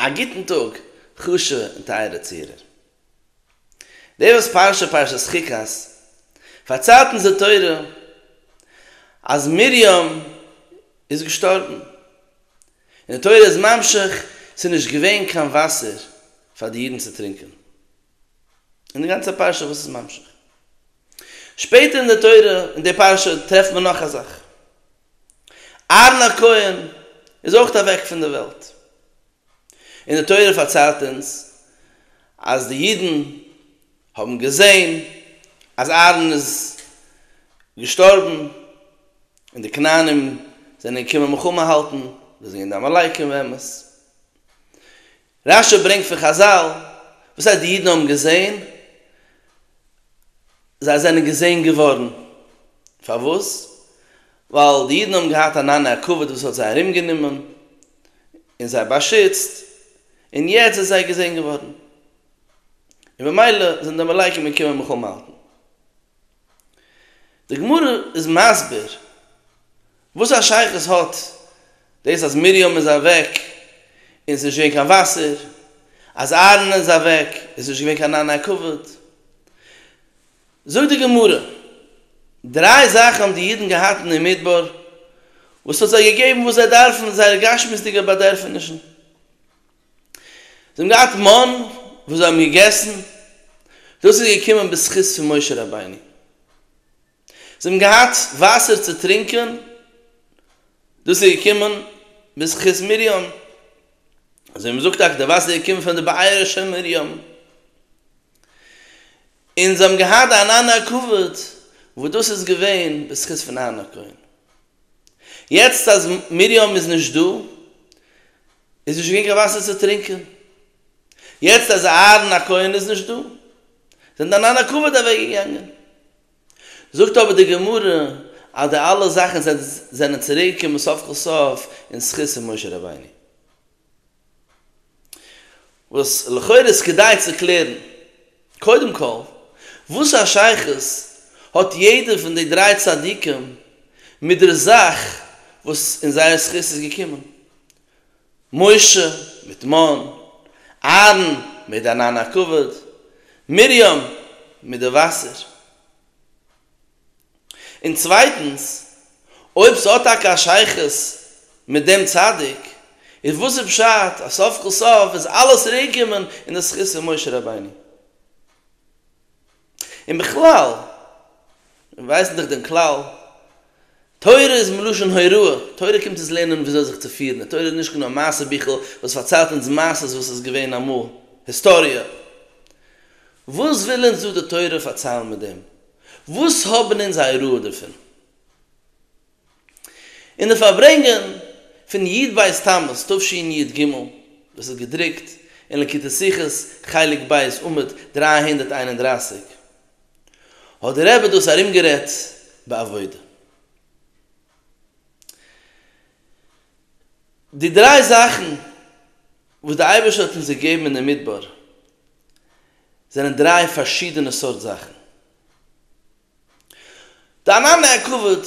א גוטן טאג חשובע און טייערע צוהערער. די וואס פארשען פרשת חוקת פארציילט אונז די תורה אז מרים איז געשטארבן, און די תורה איז ממשיך ס'איז נישט געווען קיין וואסער פאר די אידן צו טרינקען, און די גאנצע פרשה וואס איז ממשיך. שפעטער אין די תורה אין די פרשה טרעפט מען נאך א זאך. אהרן הכהן איז אויך אוועק פון דער וועלט, און די תורה פארציילט אונז אז די אידן האבן געזען אז אהרן איז געשטארבן, און די כנענים זענען געקומען מלחמה האלטן, דאס זענען געווען די עמלקים באמת, רש י ברענגט פון חזל, וואס הייסט די אידן האבן געזען? זיי זענען געזען געווארן. פארוואס? ווייל די אידן האבן געהאט אן ענני הכבוד וואס האט זיי ארומגענומען און זיי באשיצט, און יעצט זענען זיי געזען געווארן, און ממילא זענען די עמלקים געקומען מלחמה האלטן. די גמרא איז מסביר וואס א שייכות האט דאס אז מרים איז אוועק און ס'איז נישט געווען קיין וואסער, אז אהרן איז אוועק און ס'איז נישט געווען קיין ענני כבוד. זאגט די גמרא, דריי זאכן האבן די אידן געהאט אין די מדבר וואס האט זיי געגעבן וואס זיי דארפן, זייערע גשמיות'דיגע באדערפענישן. זיי האבן געהאט מאן וואס זיי האבן געגעסן, דאס איז געקומען בזכות פון משה רבינו, זיי האבן געהאט וואסער צו טרינקען, דאס איז געקומען בזכות מרים, אזוי מ'זאגט טאקע די וואסער איז געקומען פון די בארה של מרים, און זיי האבן געהאט אהרן הכבוד וואס דאס איז געווען בזכות פון אהרן הכהן, יעצט אז מרים איז נישט דא, איז נישט געווען קיין וואסער צו טרינקען, יעצט אז אהרן הכהן איז נישט דא, זענען די נאנא כבוד אוועק געגאנגען. זאגט אבער די גמרא אז די אלע זאכן זענען צוריק געקומען סוף כל סוף אין זכות פון משה רבינו, וואס לכאורה איז כדאי צו קלערן, קודם כל, וואס א שייכות האט יעדער פון די דריי צדיקים מיט דער זאך וואס אין זייער זכות איז געקומען? משה מיט מאן, אהרן מיט די ענן הכבוד, מרים מיט די וואסער. און צווייטנס, אויב ס'האט טאקע א שייכות מיט דעם צדיק, איז וואס איז פשט אז סוף כל סוף איז אלעס צוריקגעקומען אין די זכות פון משה רבינו? און בכלל ווייסן דאך דעם כלל, תורה איז מלשון הוראה, תורה קומט אונז לערנען ווי אזוי זיך צו פירן, די תורה איז נישט קיין מעשה ביכל וואס פארציילט אונז מעשות וואס איז געווען אמאל, היסטאריע. וואס וויל אונז דא די תורה פארציילן מיט דעם? וואס האבן אונז א הוראה דערפון? אין די פארברענגען פון י' בית תמוז תשנ י ג, וואס איז געדרוקט אין לקוטי שיחות חלק ב' עמוד דרײַ הונדערט איין און דרײַסיק, האט דער רבי דאס ארומגערעדט בעבודה. די דריי זאכן וואס דער אייבערשטער האט אונז געגעבן אין דעם מדבר זענען דריי פארשידענע סארט זאכן. דיין אנע כבוד,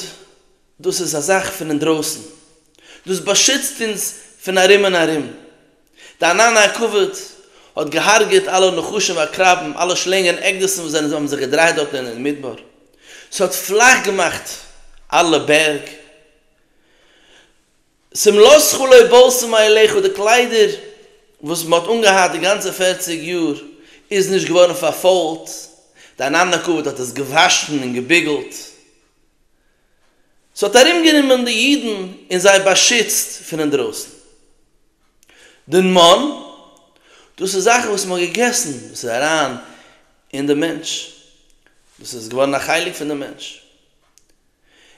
דאס איז א זאך פון אינדרויסן, דאס באשיצט אונז פון ארום און ארום. דיין אנע כבוד האט געהארגעט אלע נחשים ועקרבים, אלע שלענגען עקדיסן וואס זענען האבן זיך געדרייט דארטן אין אין מדבר, ס'האט פלאך געמאכט אלע בערג, שמלתך לא בלסו מעליך די קליידער וואס מ'האט אנגעהאט די גאנצע פֿערציק יאר איז נישט געווארן פארפוילט, דיין אנדער כבוד האט עס געוואשן און געביגלט, ס'האט ארומגענומען די אידן און זיי באשיצט פון אינדרויסן. דער מן, דאס איז זאכן וואס מ'האט געגעסן, דאס איז אריין אין דעם מענטש, דאס איז געווארן א חלק פון דעם מענטש,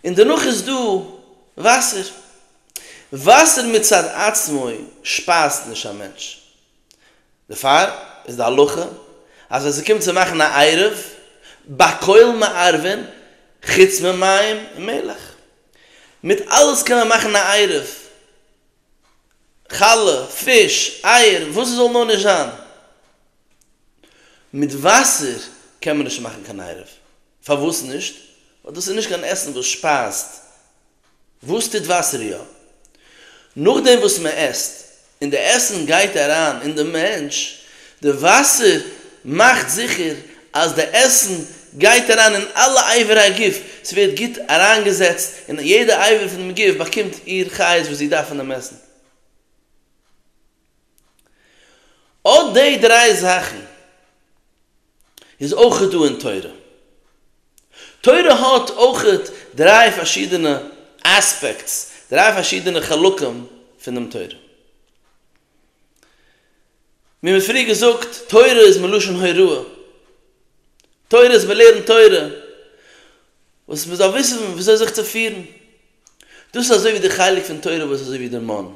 און דערנאך איז דא וואסער. וואסער מצד עצמו שפייזט נישט א מענטש. דערפאר איז די הלכה אז ווען ס'קומט צו מאכן א עירוב, בכל מערבין חוץ ממים ומלח. מיט אלעס קען מען מאכן א עירוב. חלה, פיש, אייער, וואס ס'זאל נאר נישט זיין. מיט וואסער קען מען נישט מאכן קיין עירוב. פארוואס נישט? ווייל דאס איז נישט קיין עסן וואס שפייזט. וואס טוט וואסער יא? נאכדעם וואס מען עסט, און די עסן גייט אריין אין די מענטש, די וואסער מאכט זיכער אז די עסן גייט אריין אין אלע אייווער הגוף, ס'ווערט גוט אריינגעזעצט און יעדע אייווער פונעם גוף באקומט איר חיות וואס זי דארף פונעם עסן. אט די דריי זאכן איז אויך דא אין תורה. תורה האט אויך דריי פארשידענע אספעקטס, דריי פארשידענע חלקים פון דעם תורה. מיר האבן פריער געזאגט, תורה איז מלשון הוראה. תורה איז מ'לערנט תורה, וואס מ'זאל וויסן וויאזוי זיך צו פירן, דאס איז אזוי ווי די חלק פון תורה וואס אזוי ווי דער מנ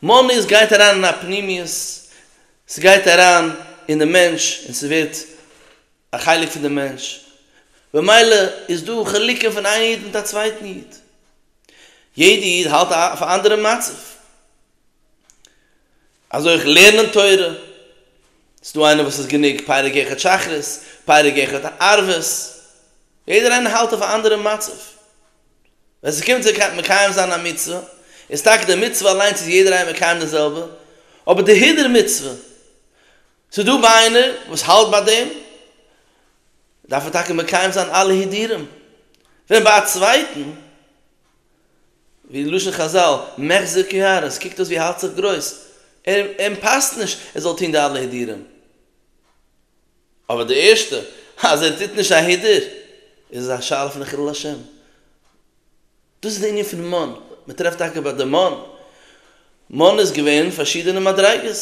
מנ איז גייט אריין אין א פנימיות, ס'גייט אריין אין די מענטש און ס'ווערט א חלק פון די מענטש, במילא איז דא חילוקים פון איין איד מיט א צווייטן איד, יעדע איד האלט אויף א אנדערע מצב. אזוי אויך לערנען תורה, ס'איז דא איינער וואס איז גענוג פרק אחד שחרית, פרק אחד ערבית, יעדער איינער האלט אויף א אנדערע מצב. ווען ס'קומט צו מקיים זיין א מצוה, איז טאקע די מצוה אליינס איז יעדער איינער מקיים די זעלבע, אבער די הידור מצוה, ס'איז דא ביי איינער וואס האלט ביי דעם, דארף ער טאקע מקיים זיין אלע הידורים, ווען ביי א צווייטן ווי אין לשון חזל, מחזיר כיער, עס קוקט אויס ווי ער האלט זיך גרויס, אים פאסט נישט ער זאל טון די אלע הידורים. אבער די ערשטע, אז ער טוט נישט א הידור, איז עס א שאלה פון חילול השם. דאס איז די ענין פון מן, מען טרעפט טאקע ביי די מן, מן איז געווען פארשידענע מדריגות,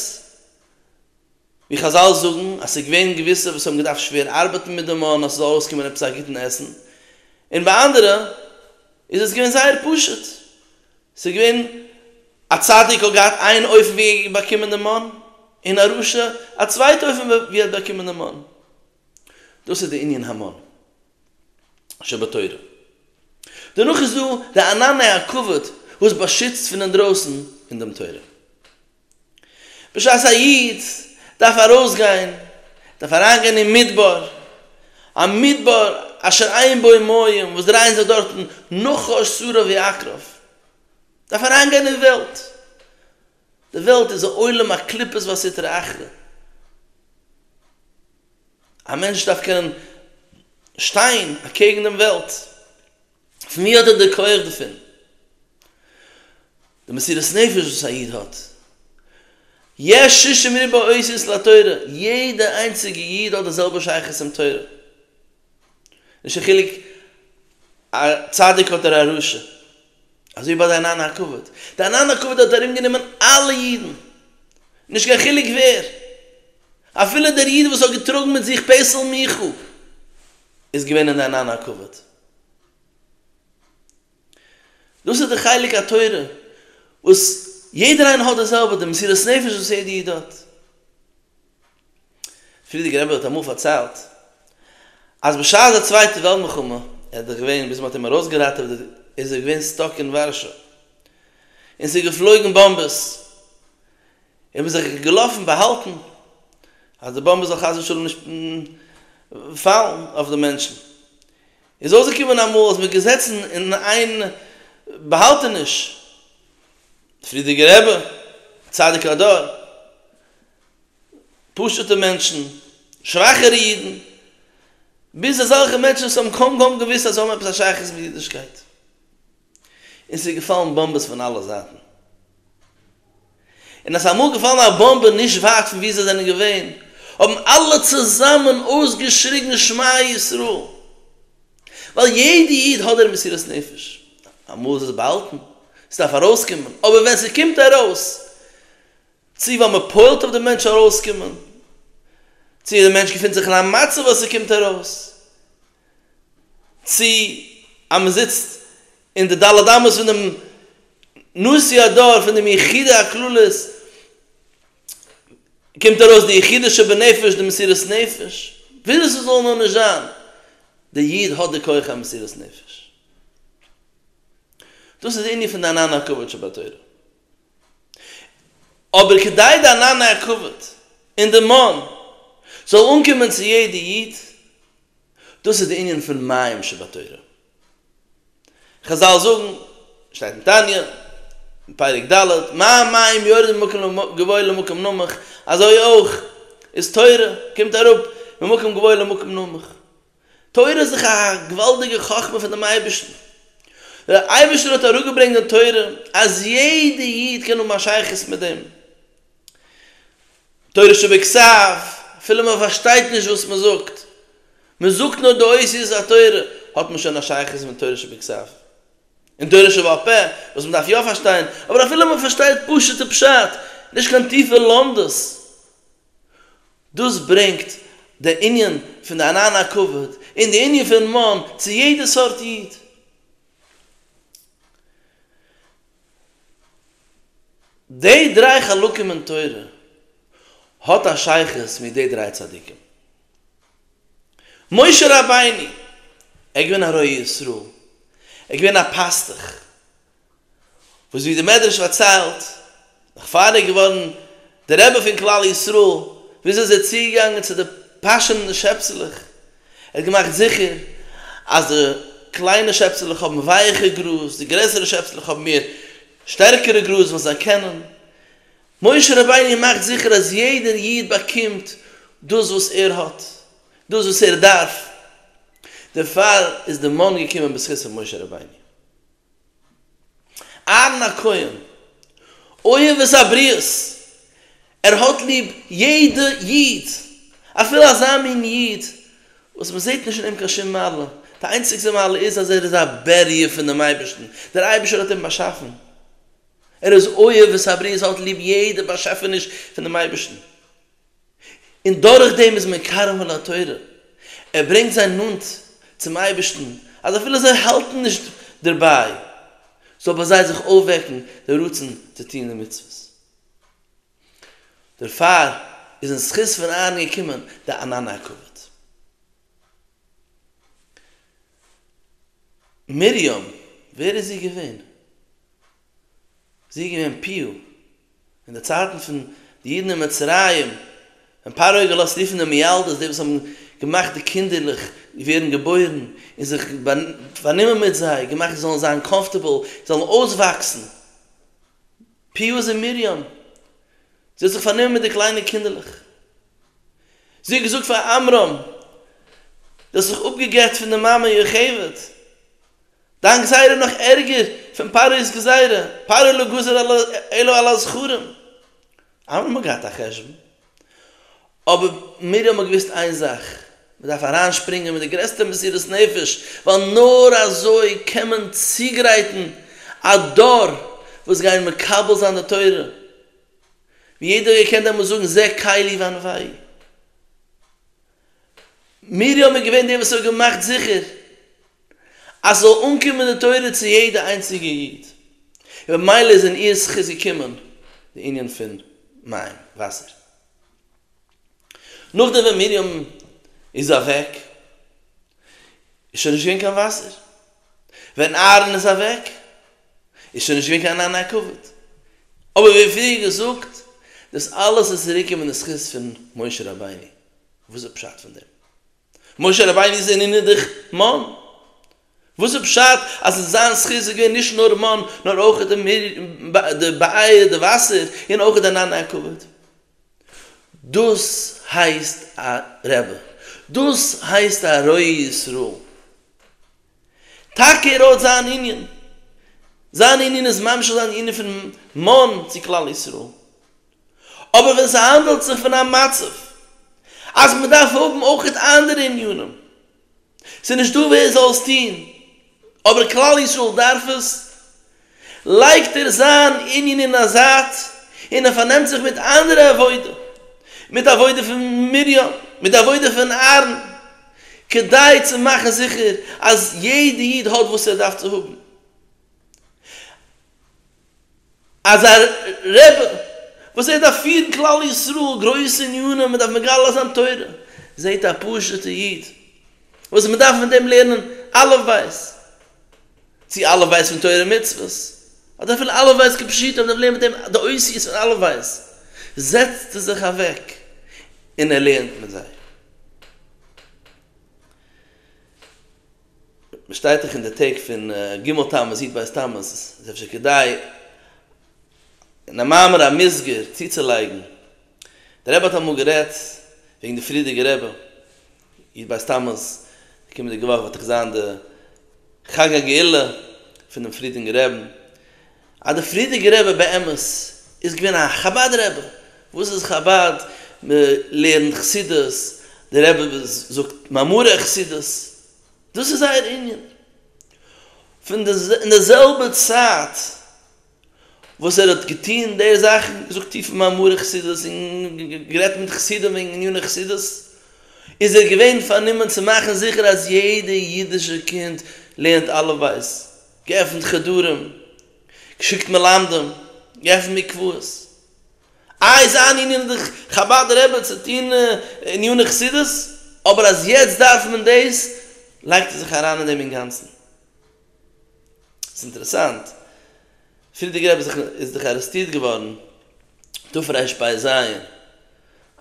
ווי חזל זאגן אז ס'איז געווען געוויסע וואס האבן געדארפט שווער ארבעטן מיט די מאן אז ס'זאל ארויסקומען עפעס א גוטן עסן, און ביי אנדערע איז עס געווען זייער פשוט, ס'איז געווען א צדיק האט געהאט איין אופן ווי ער האט באקומען די מאן, און א רשע א צווייטע אופן ווי ער האט באקומען די מאן. דאס איז די ענין המן שבתורה. דערנאך איז דא די ענני הכבוד וואס באשיצט פון אינדרויסן אין דעם תורה. בשעת א איד דארף ארויסגיין, דארף אריינגיין אין מדבר, א מדבר אשר אין בו מים, וואס דרייען זיך דארטן נחש סרא ועקרב, דארף אריינגיין אין וועלט, די וועלט איז א עולם הקליפות והסטרא אחרא, א מענטש דארף קענען שטיין אקעגן דעם וועלט, פון ווי האט ער די כח דערפון? די מסירת נפש וואס א איד האט. יש שישים ריבוא עושות לתורה, יעדע איינציגע איד האט די זעלבע שייכות צום תורה. נישט קיין חילוק א צדיק אדער א רשע. אזוי ביי די ענני הכבוד. די ענני הכבוד האט ארום גענומען אלע אידן. נישט קיין חילוק ווער. אפילו דער איד וואס האט געטראגן מיט זיך פעסל מיכאל. איז געווען אין ענן הכבוד. דאס איז די חלק התורה וואס יעדער איינער האט די זעלבע די מסירות נפש וואס יעדע איד האט. פרידיגער רבי האט אמאל פארציילט אז בשעת די צווייטע וועלט מלחמה ער איז דאך געווען ביז מען האט אים ארויסגעראטעוועט איז ער געווען סטאק אין ווארשא און ס'איז געפלויגן באמבעס און ווי זיך געלאפן באהאלטן אז די באמבע זאל חס ושלום נישט פאלן אויף די מענטשן, איז אויסגעקומען אמאל אז מ'איז געזעצן אין איין באהאלטעניש, די פריערדיגע רבי, צדיק הדור, פשוט'ע מענטשן, שוואכערע אידן, ביז אזעלכע מענטשן וואס האבן קוים קוים געוואוסט אז זיי האבן עפעס א שייכות מיט אידישקייט. און ס'איז געפאלן באמבעס פון אלע זייטן, און אז אמאל געפאלן א באמבע נישט ווייט פון וואו זיי זענען געווען, האבן אלע צוזאמען אויסגעשריגן שמע ישראל, ווייל יעדע איד האט דער מסירות נפש, אמאל איז עס באהאלטן, עס דארף ארויסקומען, אבער ווען ס'קומט ארויס, צו ווייל מען פועל'ט אויף דעם מענטש ארויסקומען, צו דער מענטש געפינט זיך אין א מצב אז ס'קומט ארויס, צי אז מען זיצט אין די ד' אמות פון דעם נשיא הדור פון דעם יחידי הכללות קומט ארויס די יחידה שבנפש די מסירות נפש, וויאזוי ס'זאל נאר נישט זיין, דער איד האט די כח המסירות נפש. דאס איז די ענין פון דיין הנאה הכבוד שבתורה. אבער כדי די ענני הכבוד און די מאן זאל אנקומען צו יעדע איד, דאס איז די ענין פון מים שבתורה. חזל זאגן, שטייט אין תניא, פרק ד', מים מים יורדים ממקום גבוה למקום נמוך, אזוי אויך איז תורה קומט אראפ ממקום גבוה למקום נמוך. תורה איז דאך א געוואלדיגע חכמה פון דעם אייבערשטן. דער אייבערשטער האט אראפגעברענגט דעם תורה אז יעדע איד קען האבן א שייכות מיט דעם. תורה שבכסף, אפילו מען פארשטייט נישט וואס מען זאגט, מען זאגט נאר די אותיות התורה, האט מען שוין א שייכות מיט תורה שבכסף. און תורה שבעל פה, וואס מען דארף יא פארשטיין, אבער אפילו מען פארשטייט פשוט'ע פשט, נישט קיין טיפע לומדות, דאס ברענגט די ענין פון די ענן הכבוד און די ענין פון מאן צו יעדע סארט איד. די דריי חלקים אין תורה האט א שייכות מיט די דריי צדיקים. משה רבינו, ער איז געווען א רועה ישראל, ער איז געווען א פאסטוך, וואס ווי דער מדרש פארציילט, נאכפאר ער איז געווארן דער רבי פון כלל ישראל, וויאזוי איז ער צוגעגאנגען צו די פאשענדע שעפסעלעך, ער האט געמאכט זיכער אז די קליינע שעפסעלעך האבן ווייעכע גראז, די גרעסערע שעפסעלעך האבן מער שטערקערע גראז וואס זיי קענען, משה רבינו מאכט זיכער אז יעדער איד באקומט דאס וואס ער האט, דאס וואס ער דארף, דערפאר איז די מן געקומען בזכות פון משה רבינו. אהרן הכהן, אוהב את הבריות, ער האט ליב יעדע איד, אפילו אזא מין איד וואס מען זעט נישט אין אים קיין שום מעלה, די איינציגסטע מעלה איז אז ער איז א בריה פון דעם אייבערשטן, דער אייבערשטער האט אים באשאפן, ער איז אוהב את הבריות, ער האט ליב יעדע באשעפעניש פון דעם אייבערשטן. און דורך דעם איז מען קרוב אל התורה, ער ברענגט זיי נאנט צום אייבערשטן, אז אפילו זיי האלטן נישט דערביי, זאל ביי זיי זיך אויפוועקן דער רצון צו טון די מצוות. דערפאר איז אין זכות פון אהרן געקומען די ענני הכבוד. מרים, ווער איז זי געווען? זי איז געווען פיל אין די צייטן פון די אידן אין מצרים, ווען פרעה האט געלאזט רופן די מיילדות, די וואס האבן געמאכט די קינדערלעך ווערן געבוירן, און זיך פארנומען מיט זיי, געמאכט זיי זאלן זיין קאמפארטעבל, זאלן אויסוואקסן, פיל איז אין מרים, זי האט זיך פארנומען מיט די קליינע קינדערלעך, זי האט געזאגט פאר עמרם, דו האסט זיך אפגעגעט פון די מאמע יוכבד. דיין גזירה נאך ערגער פון פרעה'ס גזירה, פרעה לא גזר אלא על הזכרים, אלע האבן געהאט א חשבון, אבער מיר האבן געוואוסט איין זאך, מען דארף אריינשפרינגען מיט די גרעסטע מסירות נפש, ווייל נאר אזוי קען מען צוגרייטן א דור וואס גייען מקבל זיין די תורה, ווי יעדער האט געקענט דעמאלס זאגן זה קלי וענווי'. מיר האבן געווען די וואס האבן געמאכט זיכער אז ס'זאל אנקומען די תורה צו יעדע איינציגע איד, און ממילא איז אין איר זכות געקומען די ענין פון מים, וואסער. נאכדעם ווען מרים איז אוועק איז שוין נישט געווען קיין וואסער, ווען אהרן איז אוועק איז שוין נישט געווען קיין ענין הכבוד. אבער ווי פריער געזאגט, דאס אלעס איז צוריקגעקומען אין זכות פון משה רבינו. וואס איז פשט פון דעם? משה רבינו איז אין אינידעך מאן. וואס איז פשט אז אין זיין זכות איז געווען נישט נאר מאן נאר אויך די באייר די וואסער און אויך די ענין הכבוד? דאס הייסט א רבי? דאס הייסט א רועה ישראל? טאקע ער האט זיין ענין, זיין ענין איז ממש אזוי די ענין פון מן צו כלל ישראל, אבער ווען ס'האנדעלט זיך פון א מצב אז מ'דארף האבן אויך אנדערע ענינים, ס'איז נישט דא ווער זאל עס טון אבער כלל ישראל דארף עס, לייגט ער זיין ענין אין א זייט און ער פארנעמט זיך מיט אנדערע עבודה, מיט די עבודה פון מרים, מיט די עבודה פון אהרן, כדי צו מאכן זיכער אז יעדע איד האט וואס ער דארף צו האבן. אז א רבי וואס ער דארף פירן כלל ישראל גרויסע ענינים, מען דארף מגלה זיין תורה, זעט א פשוט'ע איד וואס מען דארף מיט אים לערנען אלף בית, צי א' ווייסט פון תורה און מצוות, אדער אפילו א' ווייסט כפשוטו אבער דער פלעם מיט דעם די אותיות פון א' ווייסט, זעצט ער זיך אוועק און ער לערנט מיט זיי. מען שטייט דאך אין די טעג פון ג' תמוז יט ב' תמוז איז אפשר כדאי אין א מאמר המוסגר צוצולייגן, דער רבי האט אמאל גערעדט וועגן די פרידיגע רבי, יעצט ביי סטאמאס די קומענדיגע וואך וועט דאך זיין די חג הגאולה פונעם פרידינגער רעבען, אז די פרידיגער רבי באמת איז געווען א חבד רבי, וואס איז חבד? מען לערנט חסידות, די רבי זאגט מאמרי חסידות, דאס איז זייער ענין, פון די אין די זעלבע צייט. וואס ער האט געטון די זאכן, געזאגט טיפע מאמרי חסידות און גערעדט מיט חסידים וועגן עניני חסידות, איז ער געווען פארנומען צו מאכן זיכער אז יעדע אידישע קינד לערנט אלף בית, געעפנט חדרים, געשיקט מלמדים, געעפנט מקוואות. איי איז זיין ענין די חבד רעבע צו טון עניני חסידות, אבער אז יעצט דארף מען דאס לייגט ער זיך אריין אין דעם אינגאנצן. ס'איז אינטערעסאנט, פרידיגער רבי זצ ל איז דאך ארעסטירט געווארן תרפ ב ז ל,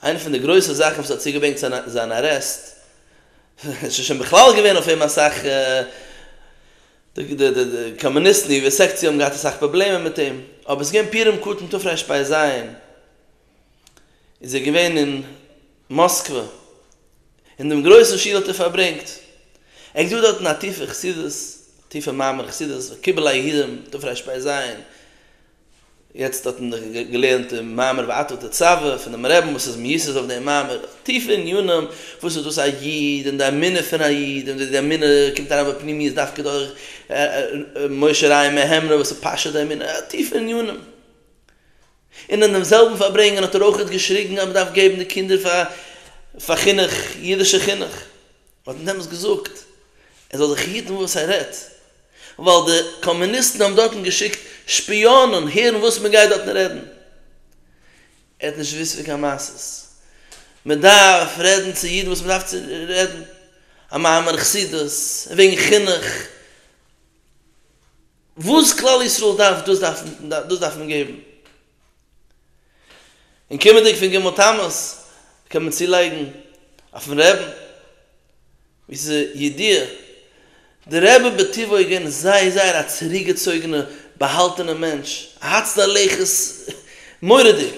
איינע פון די גרויסע זאכן וואס האט צוגעברענגט צו זיין ארעסט, עס איז שוין בכלל געווען אויף אים אסאך, די קאמוניסטן, די יו ע סעקציע האבן געהאט אסאך פראבלעמען מיט אים, אבער עס איז געווען פורים קטן תרפ ב ז ל, איז ער געווען אין מאסקווע, אין דעם גרויסן שול האט ער פארברענגט, ער האט געזוכט דארטן א טיפע חסידות, א טיפע מעמד חסידות, וקיבל היהודים, דארף ר' שפיי זיין, יעצט האט מען דאך געלערנט דעם מאמר ואתו תצוה פונעם רעבען וואס איז מיוסד אויף דעם מאמר, טיפע עניינים, וואס איז דאס א איד, און די אמונה פון א איד, און ווי די אמונה קומט אריין בפנימיות דווקא דורך משה ר' מהר ם וואס איז פשט די אמונה, טיפע עניינים. און אין דעם זעלבן פארברענגען האט ער אויכעט געשריגן אז מען דארף געבן די קינדער פאר חינוך, אידישע חינוך. מען האט אים דעמאלס געזאגט ער זאל זיך היטן וואס ער רעדט, ווייל די קאמוניסטן האבן דארטן געשיקט שפיאנען הערן וואס מען גייט דארטן רעדן. ער האט נישט געוואוסט פון קיין מעשה'ס. מען דארף רעדן צו אידן וואס מען דארף צו רעדן, א מאמר חסידות, וועגן חינוך. וואס כלל ישראל דארף דאס דארף מען געבן. און קומענדיג פון ג' תמוז קען מען צולייגן אויפן רעבן, ווי ס'איז ידיעה, דער רבי בטבעו איז געווען זייער זייער א צוריקגעצויגענע באהאלטענע מענטש, א הצנע לכת מורא'דיג,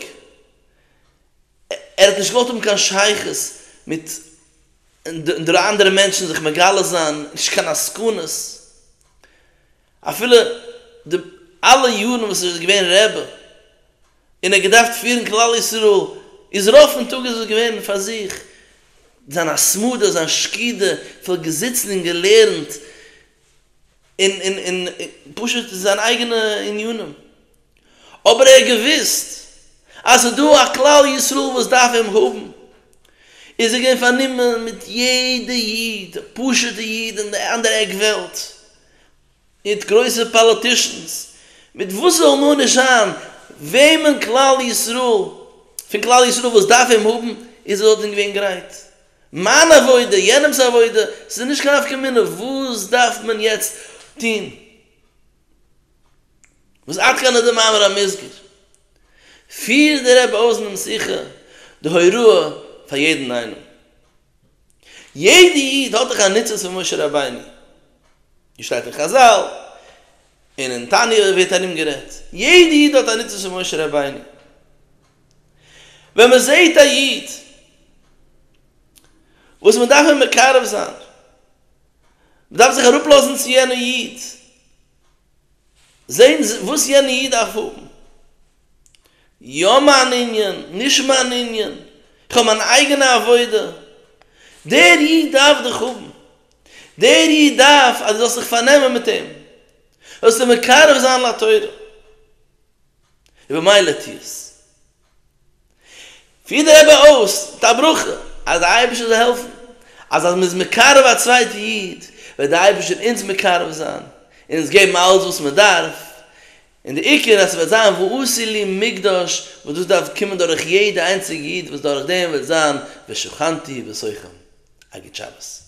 ער האט נישט געוואלט האבן קיין שייכות מיט אנדערע אנדערע מענטשן זיך מגלה זיין, נישט קיין עסקנות, אפילו די אלע יארן וואס ער איז געווען רעבע און ער האט געדארפט פירן כלל ישראל, איז רוב פון טאג איז עס געווען פאר זיך, זיין התמדה, זיין שקידה, פון געזיצן און געלערנט, און און און פשוט זיין אייגענע עניינים, אבער ער האט געוואוסט אז ס'איז דא א כלל ישראל וואס דארף אים האבן, איז ער געווען פארנומען מיט יעדע איד, א פשוטע איד אין די אנדערע עק וועלט, מיט גרויסע פאליטישאנס, מיט וואס ס'זאל נאר נישט זיין, וועמען כלל ישראל, פון כלל ישראל וואס דארף אים האבן, איז ער דארטן געווען גרייט. מיין עבודה, יענעמ'ס עבודה, ס'איז נישט קיין נפקא מינה, וואס דארף מען יעצט טון? וואס עד כאן איז די מאמר המוסגר? פירט דער רבי אויס אינעם שיחה די הוראה פאר יעדן איינעם. יעדע איד האט דאך א ניצוץ פון משה רבינו, ווי שטייט אין חזל, און אין תניא ווערט ארומגערעדט, יעדע איד האט א ניצוץ פון משה רבינו, ווען מען זעהט א איד וואס מען דארף אים מקרב זיין, מען דארף זיך אראפלאזן צו יענע איד, זעהן וואס יענע איד דארף האבן, יא מיין ענין, נישט מיין ענין, איך האב מיין אייגענע עבודה, דער איד דארף דיך האבן, דער איד דארף אז דו זאלסט זיך פארנעמען מיט אים, זאלסט אים מקרב זיין לתורה. און במילא טו עס. פיר די רבי אויס מיט א ברכה אז די אייבערשטער זאל העלפן אז אז מען איז מקרב א צווייטע איד וועט די אייבערשטער אונז מקרב זיין און אונז געבן אלעס וואס מען דארף, און די עיקר אז ס'וועט זיין ועשי לי מקדש וואס דאס דארף קומען דורך יעדע איינציגע איד וואס דורך דעם וועט זיין ושכנתי בסוכם. א גוט שבת.